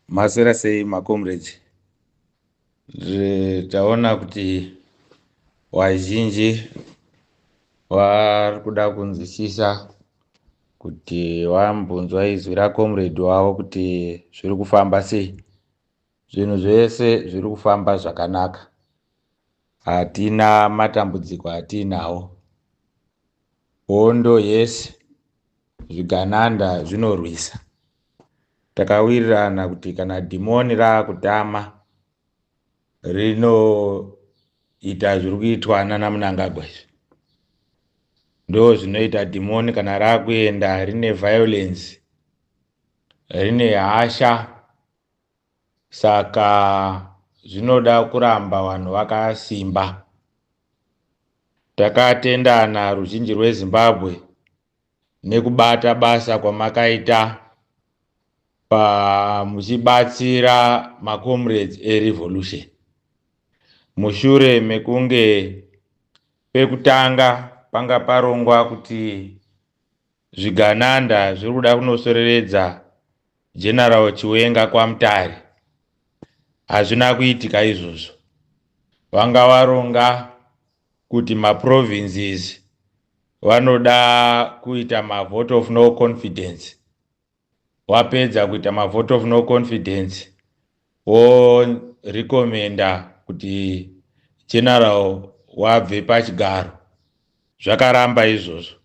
Maswera sei macomrades? Taona kuti vazhinji vari kuda kunzwisisa kuti vambunzwa izwi racomrade wavo kuti zviri kufamba sei. Zvinhu zvese zviri kufamba zvakanaka. Hatina matambudziko atiinawo. Hondo yes, zvigananda zvinorwisa. Takawirirana kuti kana dhimoni raakutama rinoita zviri kuitwa nana Mnangagwa izvi. Ndo zvinoita dhimoni kana rakuenda rine violence, rine hasha saka zvinoda kuramba vanhu vakasimba. Takatendana ruzhinji rweZimbabwe nekubata basa kwamakaita pa muchibatsira macomrades erevolution mushure mekunge pekutanga panga parongwa kuti zvigananda zviri kuda kunosoreredza general chiwenga kwamutare hazvina kuitika izvozvo vanga varonga kuti maprovinces vanoda kuita mavote of no confidence wapedza kuita mavote of no confidence worecommenda kuti general wabve pachigaro zvakaramba izvozvo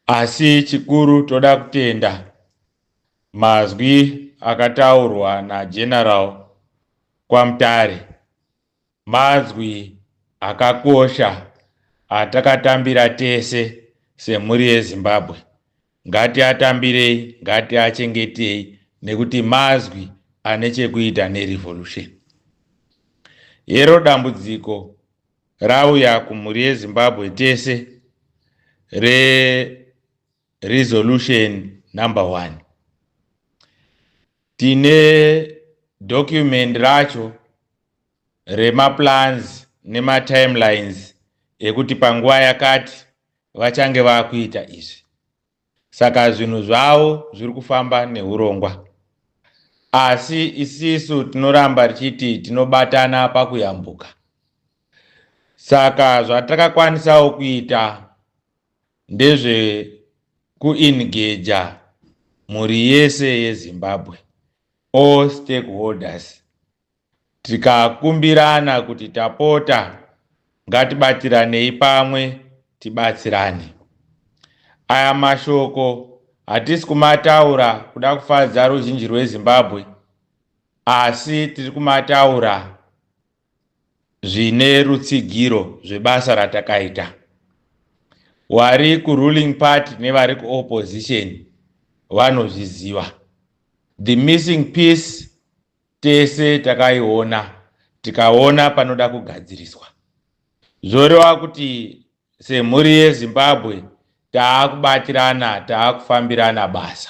asi chikuru toda kutenda mazwi akataurwa nageneral kwamutare Manzwi akakosha atakatambira tese semhuri yeZimbabwe. Ngatiatambirei, ngatiachengetei nekuti mazwi ane chekuita nerevolution. Hero dambudziko rauya kumhuri yeZimbabwe tese re resolution number one tine document racho remaplans nematimelines ekuti panguva yakati vachange vakuita izvi saka zvinhu zvavo zviri kufamba neurongwa asi isisu tinoramba tichiti tinobatana pakuyambuka saka zvatakakwanisawo kuita ndezvekuingeja mhuri yese yezimbabwe all stakeholders Tikakumbirana kuti tapota ngatibatiranei pamwe tibatsirane. Aya mashoko hatisi kumataura kuda kufadza ruzhinji rweZimbabwe asi tiri kumataura zvine rutsigiro zvebasa ratakaita. Wari kuruling party nevari kuopposition vanozviziva. The missing piece Tese takaiona tikaona panoda kugadziriswa. Zvoreva kuti semhuri yeZimbabwe taakubatirana, taakufambirana basa.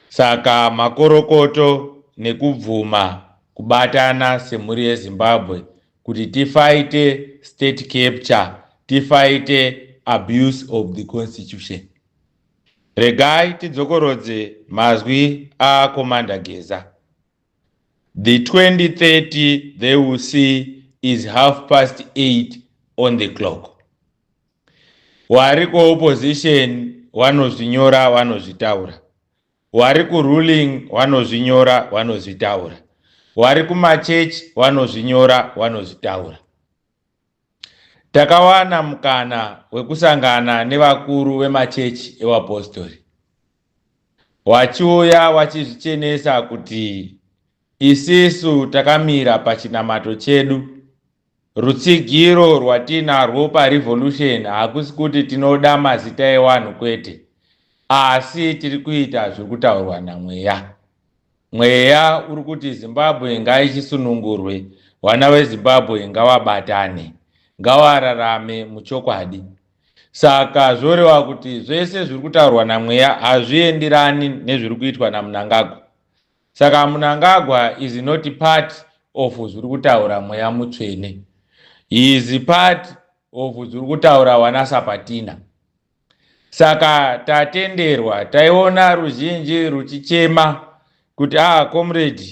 Saka makorokoto nekubvuma kubatana semhuri yeZimbabwe kuti tifaite state capture, tifaite abuse of the constitution. Regai tidzokorodze mazwi a Commander Geza. The 2030 they will see is half past 8 on the clock. Wari ku opposition wanozvinyora wanozvitaura. Wari ku ruling wanozvinyora wanozvitaura. Wari kumachechi wanozvinyora wanozvitaura. Takawana mukana wekusangana nevakuru vemachechi evapostori. Wachiuya wachizvichenesa kuti isisu takamira pachinamato chedu. Rutsigiro rwatiinarwo paRevolution hakusi kuti tinoda mazita ewanhu kwete, asi tiri kuita zviri kutaurwa naMweya. Mweya uri kuti Zimbabwe ngaichisunungurwe, vana veZimbabwe ngavabatane, ngavararame muchokwadi. Saka zvoreva kuti zvese zviri kutaurwa naMweya hazviendirani nezviri kuitwa naMnangagwa. Saka Mnangagwa is not part of zviri kutaura Mweya Mutsvene. He is part of zviri kutaura vana Sapatina. Saka tatenderwa taiona ruzhinji ruchichema kuti ah comrade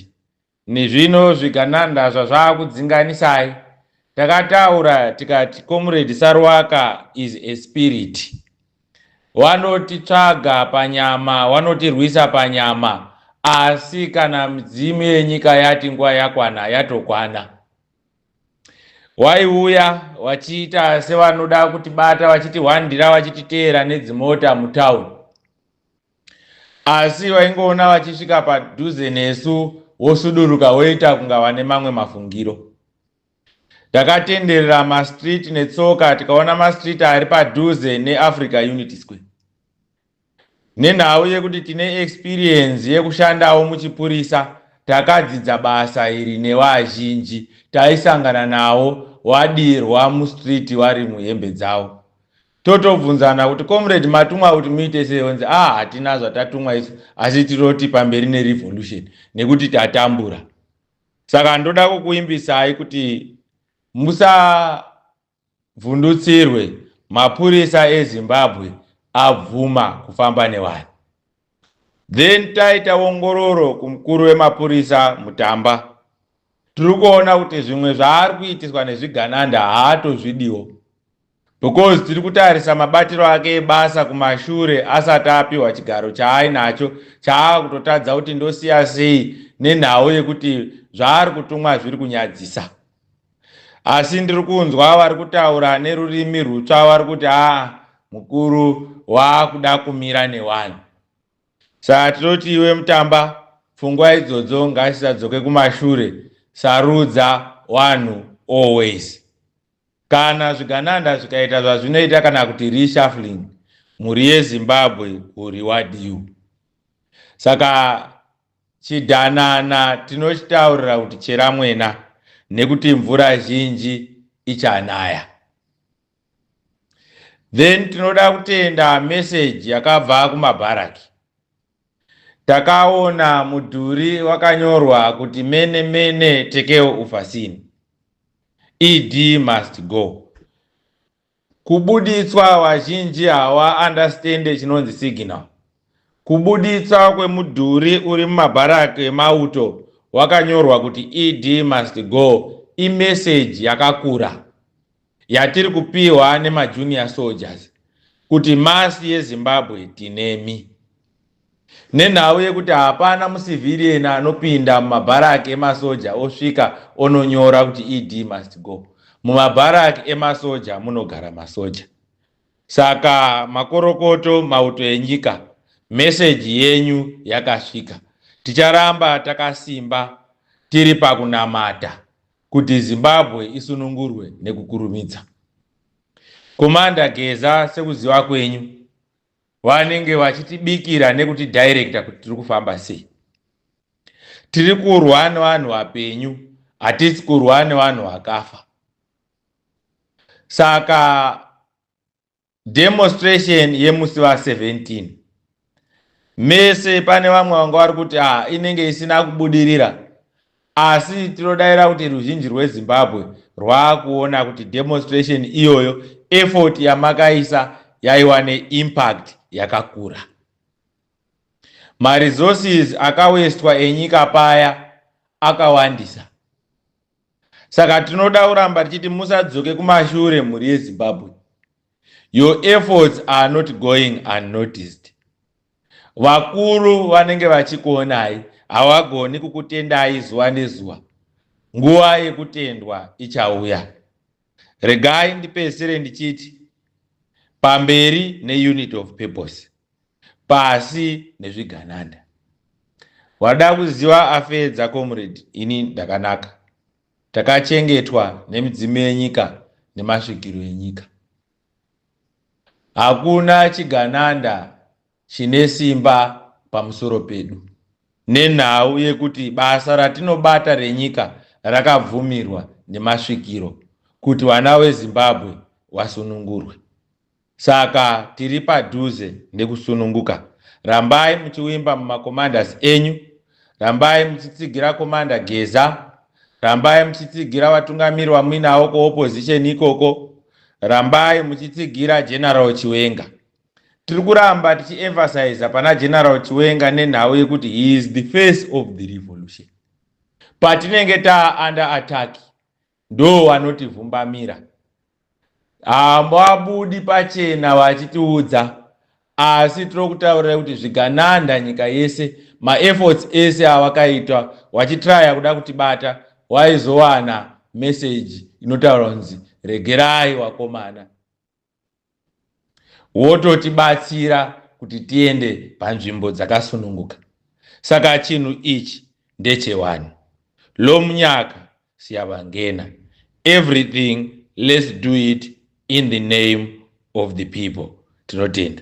nezvino zvigananda zvazvakudzinganisai. Takataura tikati comrade Saruwaka is a spirit. Wanotitsvaga panyama, wanotirwisa panyama asi kana midzimu yenyika yati nguva yakwana yatokwana. waiuya wachiita sevanoda kutibata vachitihwandira vachititeera nedzimota mutown asi vaingoona vachisvika padhuze nesu wosuduruka woita kunga vane mamwe mafungiro takatenderera mastreet netsoka tikaona mastreet ari padhuze neafrica unity square Nenhau yekuti tine experience yekushandawo muchipurisa takadzidza basa iri nevazhinji taisangana nawo wadirwa mustreet wari muhembe dzawo totobvunzana kuti comrade matumwa kuti muite sei onzi ah hatina zvatatumwa isu asi tiroti pamberi nerevolution nekuti tatambura saka ndoda kukuimbisai kuti musa Vhundutsirwe, Mapurisa eZimbabwe abvuma kufamba nevanhu. Then taita ongororo kumukuru wemapurisa Mutamba. Tiri kuona kuti zvimwe zvaari kuitiswa nezvigananda haatozvidiwo because tiri kutarisa mabatiro ake ebasa kumashure asati apiwa chigaro chaainacho chaava kutotadza kuti ndosiya sei nenhau yekuti zvaari kutumwa zviri kunyadzisa. asi ndiri kunzwa vari kutaura nerurimi rwutsva vari kuti aa mukuru waakuda kumira newani saa tinoti iwe mutamba pfungwa idzodzo ngasisadzoke kumashure sarudza wanhu always kana zvigananda zvikaita zvazvinoita kana kuti reshuffling mhuri yezimbabwe uri wadiu saka Chidanana tinochitaurira kuti cheramwena nekuti mvura zhinji ichanaya. Then tinoda kutenda message yakabva kumabharaki. Takaona mudhuri wakanyorwa kuti mene mene tekeo ufasini. ED must go. Kubuditswa vazhinji hawa understand chinonzi signal. Kubuditswa kwemudhuri uri mumabharak emauto wakanyorwa kuti ED must go i message yakakura yatiri kupihwa nema junior soldiers kuti masi yeZimbabwe tinemi. Nenhau yekuti hapana mucivilian anopinda mumabharak emasoja osvika ononyora kuti ED must go. Mumabharak emasoja munogara masoja. Saka makorokoto mauto enyika message yenyu yakasvika. Ticharamba takasimba tiri pakunamata kuti Zimbabwe isunungurwe nekukurumidza. Commander Geza sekuziva kwenyu vanenge vachitibikira nekutidirecta kuti tiri kufamba sei tiri kurwa nevanhu vapenyu hatisi kurwa nevanhu vakafa saka demonstration yemusi va 17 mese pane vamwe vanga vari kuti ah inenge isina kubudirira Asi tinodaira kuti ruzhinji rweZimbabwe rwakuona kuti demonstration iyoyo effort yamakaisa yaiwa neimpact yakakura. Maresources akawestwa enyika paya akawandisa. Saka tinoda kuramba tichiti musadzoke kumashure mhuri yeZimbabwe. your efforts are not going unnoticed vakuru vanenge vachikuonai havagoni kukutendai zuva nezuva nguva yekutendwa ichauya regai ndipedzisire ndichiti pamberi neunit of purpose pasi nezvigananda wada kuziva afedza comrade ini ndakanaka Takachengetwa nemidzimu yenyika nemasvikiro enyika. Hakuna chigananda chine simba pamusoro pedu nenhau yekuti basa ratinobata renyika rakabvumirwa nemasvikiro kuti vana veZimbabwe vasunungurwe. Saka tiri padhuze nekusununguka. Rambai muchiwimba mumacommanders enyu. Rambai muchitsigira commander Geza. Rambai muchitsigira vatungamiri wamuinawo kuopposition ikoko. Rambai muchitsigira General Chiwenga. Tiri kuramba tichiemphasiza pana General Chiwenga nenhau yekuti he is the face of the revolution. Patinenge taa under attack, Ndo wanoti vhumbamira. Hambwabudi pachena vachitiudza asi tirokutaurira kuti zvigananda nyika yese ma efforts ese awakaitwa wachitraya kuda kutibata waizowana message inotaura kunzi regerai wakomana. wototibatsira kuti tiende panzvimbo dzakasununguka. Saka chinhu ichi ndechewani. Lomunyaka siyavangena. Everything let's do it in the name of the people. Tinotenda.